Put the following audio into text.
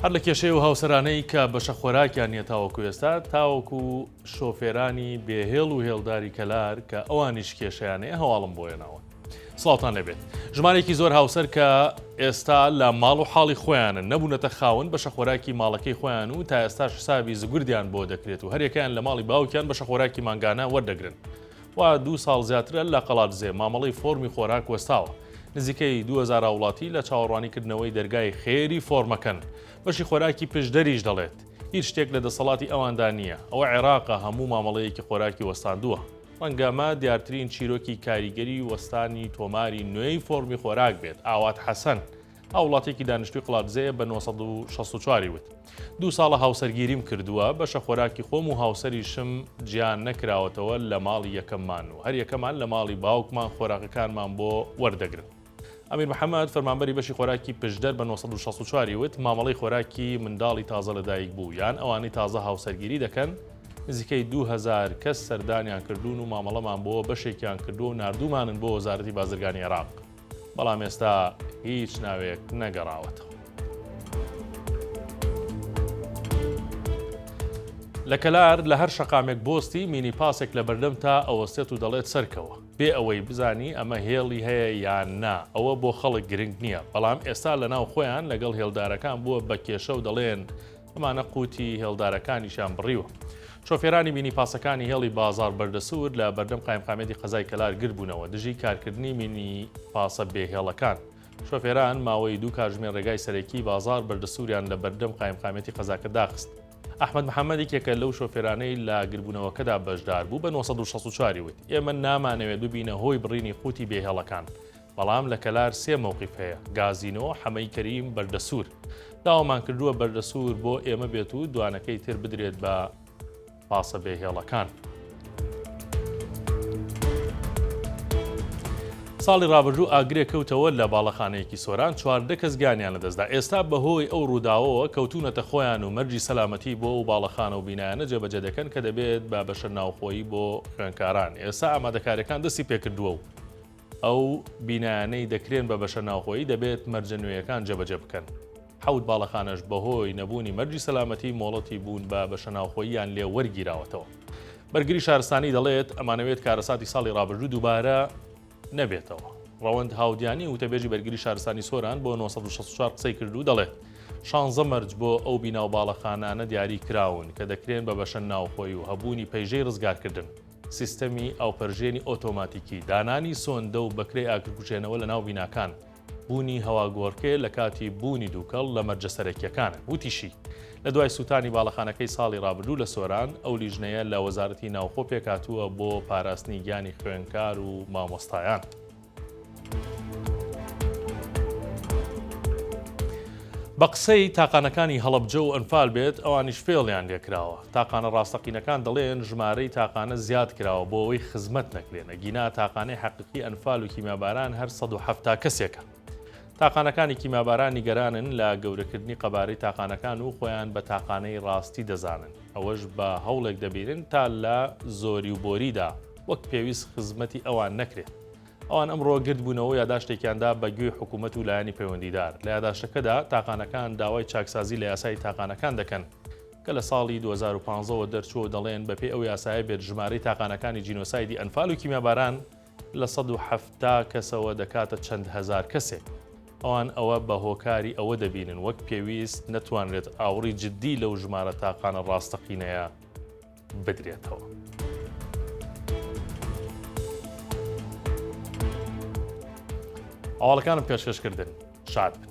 هەر لە کێشەی و هاوسەرانەی کە بەشە خۆراکیان نیە تاوەکو ئێستا تاوەکو شۆفێرانی بێهێڵ و هێڵداری کەلار کە ئەوانیش کێشیانەیە هەواڵم بۆیەناوە سڵاوان لەبێت ژمارێکی زۆر هاوسەر کە ئێستا لە ماڵ و حاڵی خۆیانە نەبوونەتە خاون بەشە خۆراکی ماڵەکەی خۆیان و تا ئێستا حسابی زگوردیان بۆ دەکرێت و هەرێکیان لە ماڵی باوکیان بەشە خۆراکی مانگانە وەردەگرن وا دوو ساڵ زیاترە لە قەڵادزێ مامەڵەی فۆرمی خۆراک وەستاوە، نزیکەی دوو هەزار هاوڵاتی لە چاوەڕوانی کردنەوەی دەرگای خێری فۆرمەکەن، بەشی خۆراکی پشدەریش دەڵێت، هیچ شتێک لە دەسەڵاتی ئەواندا نییە، ئەوە عێراقە هەموو مامەڵەیەکی خۆراکی وەستاندووە. ڕەنگە ئەمە دیارترین چیرۆکی کاریگەری وەستانی تۆماری نوێی فۆرمی خۆراک بێت، ئاوات حەسەن، هاووڵاتییەکی دانیشتووی قڵادزێیە بە نۆ سەد و شەست و چوار ی وت، دوو ساڵە هاوسەرگیریم کردووە، بەشە خۆراکی خۆم و هاوسەریشم جیا نەکراوەتەوە لە ماڵی یەکەممان و هەریەکەمان لە ماڵی باوکمان خۆراکەکانمان بۆ وەردەگرن. ئەمیر محەمەد، فەرمانبەری بەشی خۆراکی پشدەر بە نۆ سەد و شەست و چوار ی وت، مامەڵەی خۆراکی منداڵی تازە لەدایکبوو یان ئەوانەی تازە هاوسەرگیری دەکەن، نزیکەی دوو هەزار کەس سەردانیان کردوون و مامەڵەمان بۆ بەشێکیان کردووە و ناردوومانن بۆ وەزارەتی بازرگانی عێراق. بەڵام ئێستا هیچ ناوێک نەگەڕاوەتەوە. لە کەلار لە هەر شەقامێک بۆستی مینی پاسێک لە بەردەم تا ئەوەستێت و دەڵێت سەرکەوە بێ ئەوەی بزانی ئەمە هێڵی هەیە یان نا ئەوە بۆ خەڵک گرنگ نییە بەڵام ئێستا لە ناو خۆیان لەگەڵ هێڵدارەکان بووە بە کێشە و دەڵێن ئەمانە قوتی هێڵدارەکانیشان بڕیوە. شۆفێرانی مینی پاسەکانی هێڵی بازار بەردەسوور لە بەردەم قایمقامێتی قەزای کەلار گربوونەوە دژی کارکردنی مینی پاسە بێهێڵەکان. شۆفێران ماوەی دوو کارژمێ ڕێگای سەرەکی بازار بەردەسووریان لە بەردەم قایمقامێتی قەزاکە داخست. ئەحمد محەممەد یەکێکە لەو شۆفێرانەی لە گربوونەوەکەدا بەشدار بوو بە 964 وت ئێمە نامانەوێت ببینە هۆی بڕینی قوتی بێهێڵەکان بەڵام لە کەلار سێ مەوقیف هەیە، گازینۆ، حەمەی کەریم، بەردەسوور. داوامان کردووە بەردەسوور بۆ ئێمە بێت و دوانەکەی تر بدرێت بە پاسە بێ هێڵەکان. ساڵی ڕابردوو ئاگرێک کەوتەوە لە باڵەخانەیەکی سۆران چواردە کەس گیانیان لەدەستدا ئێستا بەهۆی ئەو ڕووداوەوە کەوتونەتە خۆیان و مەرجی سەلامەتی بۆ و باڵەخانە و بینایانە جێبەجێ دەکەن کە دەبێت بە بەشە ناوخۆیی بۆ خوێنکاران ئێستا ئامادەکاریەکان دەستی پێکردووە و ئەو بینایانەی دەکرێن بە بەشە ناوخۆیی دەبێت مەرجە نوێیەکان جێبەجێ بکەن. حەوت باڵەخانەش بەهۆی نەبوونی مەرجی سەلامەتی مۆڵەتی بوون بە بەشە ناوخۆییان لێ وەرگیراوەتەوە. بەرگری شارستانی دەڵێت، ئەمانەوێت کارەساتی ساڵی رابردوو دووبارە نەبێتەوە. رەوەند هاودیانی وتەبێژی بەرگری شارستانی سۆران بۆ نۆ سەد و شەست و چوار قسەی کرد و دەڵێت، شانزە مەرج بۆ ئەو بینا و باڵەخانانە دیاری کراون کە دەکرێن بە بەشە ناوخۆیی و هەبوونی پەیژەی رزگارکردن. سیستەمی ئاوپەرژێنی ئۆتۆماتیکی، دانانی سۆندە و بەکرەی ئاگرکوژێنەوە لە ناو بیناکان، بوونی هەواگۆڕکێ لە کاتی بوونی دووکەڵ لە مەرجە سەرەکییەکانن. وتیشی، لە دوای سووتانی باڵەخانەکەی ساڵی رابردوو لە سۆران، ئەو لیژنەیە لە وەزارەتی ناوخۆ پێکهاتووە بۆ پاراستنی گیانی خوێندکار و مامۆستایان. بە قسەی تاقانەکانی هەڵەبجە و ئەنفال بێت ئەوانیش فێڵیان لێکراوە تاقانە ڕاستەقینەکان دەڵێن ژمارەی تاقانە زیاد کراوە بۆ ئەوەی خزمەت نەکرێنە گینا تاقانەی حەقیقی ئەنفال و کیماباران هەر 1970 کەسێکە تاقانەکانی کیماباران نیگەرانن لە گەورەکردنی قەبارەی تاقانەکان و خۆیان بە تاقانەی ڕاستی دەزانن ئەوەش بە هەوڵێک دەبیرن تا لە زۆری و بۆریدا وەک پێویست خزمەتی ئەوان نەکرێت. ئەوان ئەمڕۆ گردبوونەوە و یاداشتێکیاندا بە گوێی حکوومەت و لایەنی پەیوەندیدار. لە یاداشتەکەدا تاقانەکان داوای چاکسازی لە یاسای تاقانەکان دەکەن، کە لە ساڵی دوو هەزار و پازدە وە دەرچووە و دەڵێن بە پێی ئەو یاسایە بێت ژمارەی تاقانەکانی جینۆسایدی ئەنفال و کیمیاباران لە سەد و حەفتا کەسەوە دەکاتە چەند هەزار کەسێک. ئەوان ئەوە بە هۆکاری ئەوە دەبینن وەک پێویست نەتوانرێت ئاوڕی جددی لەو ژمارە تاقانە ڕاستەقینەیە بدرێتەوە. ئاواڵەکانم پێشکەشکردن شاد بن.